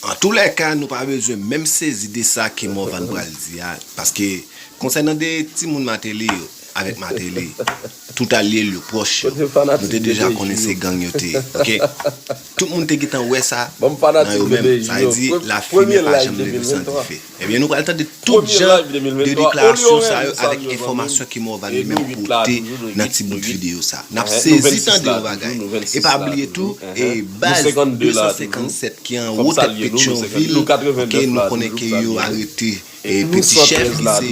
Antoulèka nou pa bezwen menm sezi de sa ke Morvan pral di a paske konsènan de timoun Martelly yo avèk Martelly tout alye l yo pwòch yo nou te deja konnen se gang yo te ye ok tout moun te gentan wè sa nan yo menm sa vle di lafimen pa janm leve san dife. Ebyen nou pral tande tout jan de deklarasyon sa yo avèk enfòmasyon ke Morvan li menm pote nan ti bout videyo sa. Nap sezi tande yon bagay. E pa bliye tou e baz 257 ki anwo tèt Petyonvil ok nou konnen ke yo arete e peti chèf li se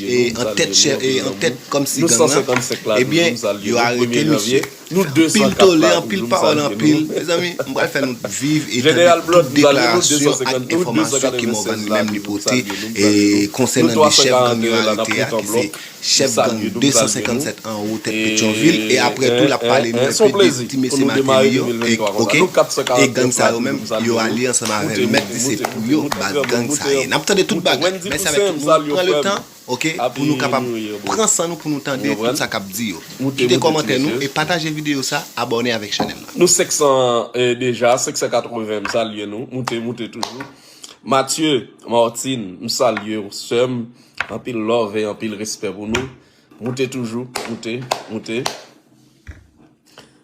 e antèt chèf e antèt kòmsi gang lan ebyen yo arete misye. Nou 200 kap la toujou m salye nou. Mezanmi m pral fè nou viv e tande tout deklarasyon ak enfòmasyon ke Morvan li menm li pote konsènan 2 chèf gang yo arete a ki se chèf gang 257 anwo tèt petyonvil e aprè tou lap pale nou enpe de ti mesye mateli yo ok e gang sa yo menm yo alye ansanm avèl mèt di se pou yo baz gang sa ye nap tande tout bagay mèsi avèk tout moun pran le tan. Ok pou nou kapab pran san nou pou nou tande tout sa kap di yo kite kòmantè nou e pataje video sa abòne avèk chanèl la. Nou 500 deja 580 m salye nou moute moute toujou Mathieu Martin m salyew seum anpil love e anpil respè pou nou moute toujou moute moute.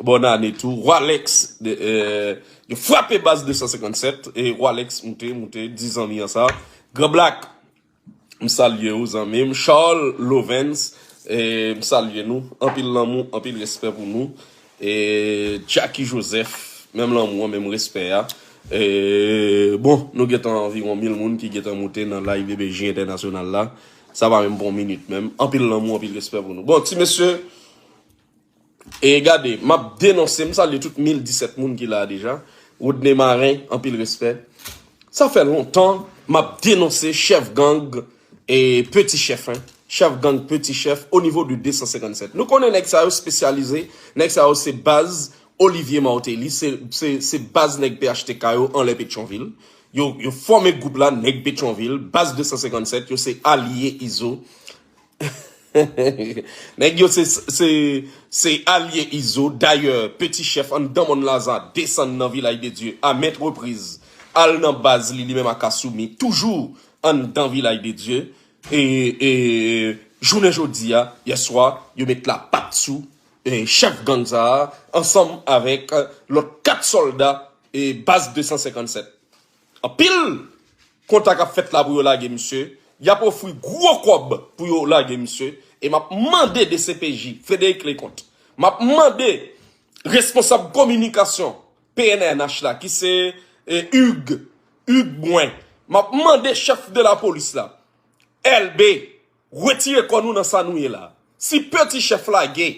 Bòn ane tou Roilex yo frape baz 257 e Roilex moute moute di zanmi an sa Grand Black m salye ou zanmi m Charles Lovens m salye nou anpil lanmou anpil respè pou nou e Jacky Joseph menm lanmou an menm respè a e bon nou gentan anviwon mil moun ki gentan moute nan live DBJ entènasyonal la sa pa menm pran yon minit menm anpil lanmou anpil respè pou nou bon ti mesye E gade, m ap denonse, m salye tout 1017 moun ki la a deja, Rodney Marin, anpil respè. Sa fè lontan m ap denonse chèf gang e peti chèf, hein, chèf gang peti chèf o nivo de 257. Nou konnen nèg sa yo spesyalize, nèg sa yo se baz Olivier Martelly, se baz nèg phtk yo anlè Petyonvil. Yo fòme gwoup la, nèg Petyonvil, baz 257, yo se alye Izo. Nèg yo se se se alye Izo dayè peti chèf anndan mòn Laza desann nan Vilaj de Dye a ment repriz al nan baz li li menm ak Assoumi toujou anndan Vilaj de Dye e e jounen jodi a yèswa yo met lapat sou e chèf gang sa a ansanm avèk lòt 4 sòlda e baz 257 Anpil kontak ap fèt la pou yo lage misye, yap ofri gwo kòb pou yo lage misye e map mande dcpj, Frederic Leconte, map mande responsab kominikasyon pnh la ki se Hugues, Hugues Brun, map mande chèf de lapolis la, Elbé. Retire kò nou nan sa nou ye la. Si pe ti chèf lage,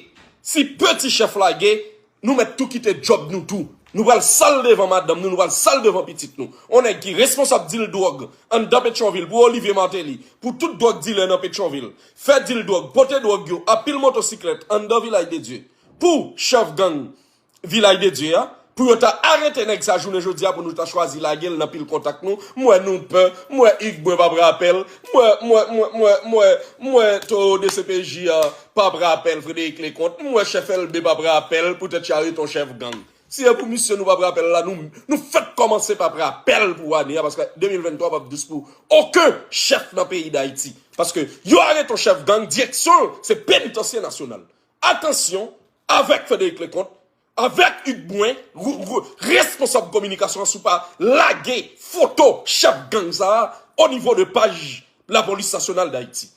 si pe ti chèf lage, nou mèt tou kite djòb nou tou. Nou pral sal devan madanm nou, nou pral sal devan pitit nou. On nèg ki responsab dil dwòg anndan Petyonvil pou Olivier Martelly, pou tout dwòg dilè nan Petyonvil, fè dil dwòg, pote dwòg yo a pil motosiklèt anndan Vilaj de Dye pou chèf gang Vilaj de Dye a, pou yo ta arete nèg sa jounen jodi a pou nou ta chwazi lage l nan pil kontak nou, m wè nou pè, m wè Yves Brun p ap rapè l, m wè, m wè, m wè, m wè, m wè, m wè towo dcpj a p ap rapè l, Frédéric Leconte, m wè chèf Elbe p ap rapè l poutèt Chariton chèf gang. Si e pou misye nou p ap rapè l la, nou, nou fèk kòmanse p ap rapè l pou ane a paske 2023 p ap dous pou oken chèf nan peyi Dayiti. Paske yo arete yon chèf gang, direksyon l se penitansye nasyonal. Atansyon, avèk Frederic Leconte, avèk Hugues Brun, responsab kominikasyon an si w pa lage foto chèf gang sa a o nivo de paj Lapolis Nasyonal Dayiti.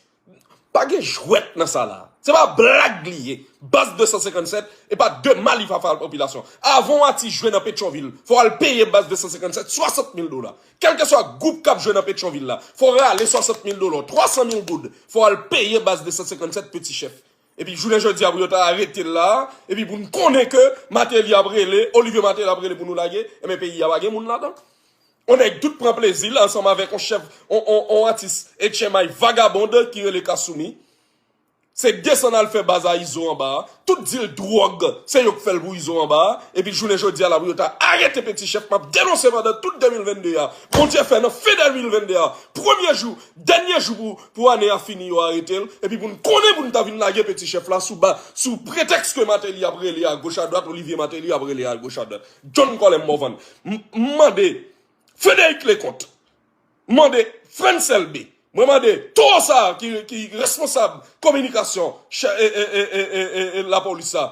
Pa gen jwèt nan sa la a. Se pa blag li ye. Baz 257 e pa de mal li va fè al popilasyon an. Avan w ati jwe nan Petyonvil, fò w al peye Baz 257 swasant mil dola. Kèlkeswa gwoup k ap jwe nan Petyonvil la, fò w rale swasant mil dola w, twasan mil goud, fò w al peye Baz 257 peti chèf. Epi jounen jodi a pou yo ta arete l la a, epi pou n konnen ke Mateli ap rele, Olivier Mateli ap rele pou nou lage, enben peyi a pa gen moun ladan. On nèg tout pran plezi l ansanm avèk on chèf, on, on, on atis etchèmay vagabond ki rele Kassoumi. Se desann al fè baz a Izo anba a. Tout dil dwòg, se yo k fè l pou Izo anba a. Epi jounen jodi a la pou yo ta arete Peti Chèf, m ap denonse pandan tout 2022 a, Bondye fè nan fen 2022 a, premye jou, dènye jou pou Pou ane a fini yo arete l, epi pou n konnen pou n ta vin lage peti chèf la sou ba, sou pretèks ke Mateli ap rele a goch a dwat, Olivye Mateli ap rele a goch a dwat. John Colem Morvan, M mande Frederic Leconte, m mande Frantz Elbé, mwen mande towo sa a ki responsab kominikasyon lapolis la,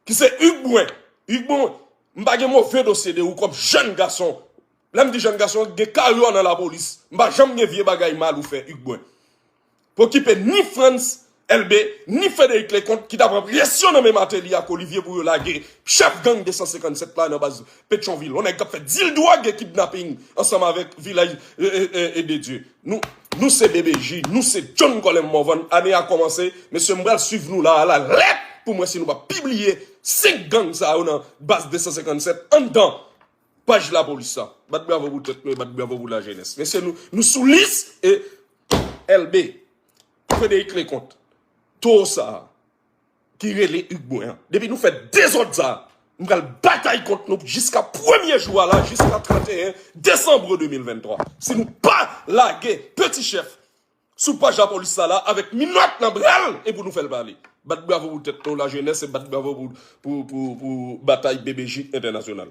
Ki se Hugues Brun. Hugues Brun, m pa gen move dosye de ou kòm jèn gason. Lè m di jèn gason, gen karyè w nan lapolis. M pa janm gen vye bagay mal ou fè Hugues Brun. Pou okipe ni Frantz Elbé, ni Frédéric Leconte ki ta pran presyon nan men Martelly ak Olivier pou yo lage chèf gang 257 la nan baz Petyonvil. Yon nèg k ap fè deal dwòg e kidnaping ansanm avèk Vilaj de Dieu. Nou Nou se BBJ Nou se John Colem Morvan Ane a komanse Mesye m pral swiv nou la a la lèt Poum wè si nou pap pibliye 5 gang sa yo nan Baz 257 anndan Paj lapolis la Bat bravo pou tèt nou e bat bravo pou lajenès Mesye nou Nou sou lis e Elbe Frederick Leconte Towo sa a. ki rele Hugues mwen an. Depi nou fè dezòd sa a, m pral batay kont nou jiska premye jou a la, jiska 31 desanbre 2023. Si nou pa lage Peti Chèf sou paj lapolis sa la avèk minòt nan bra l, e pou nou fè l pale. Bat bravo pou tèt nou, lajenès, e bat bravo pou batay BBJ entènasyonal.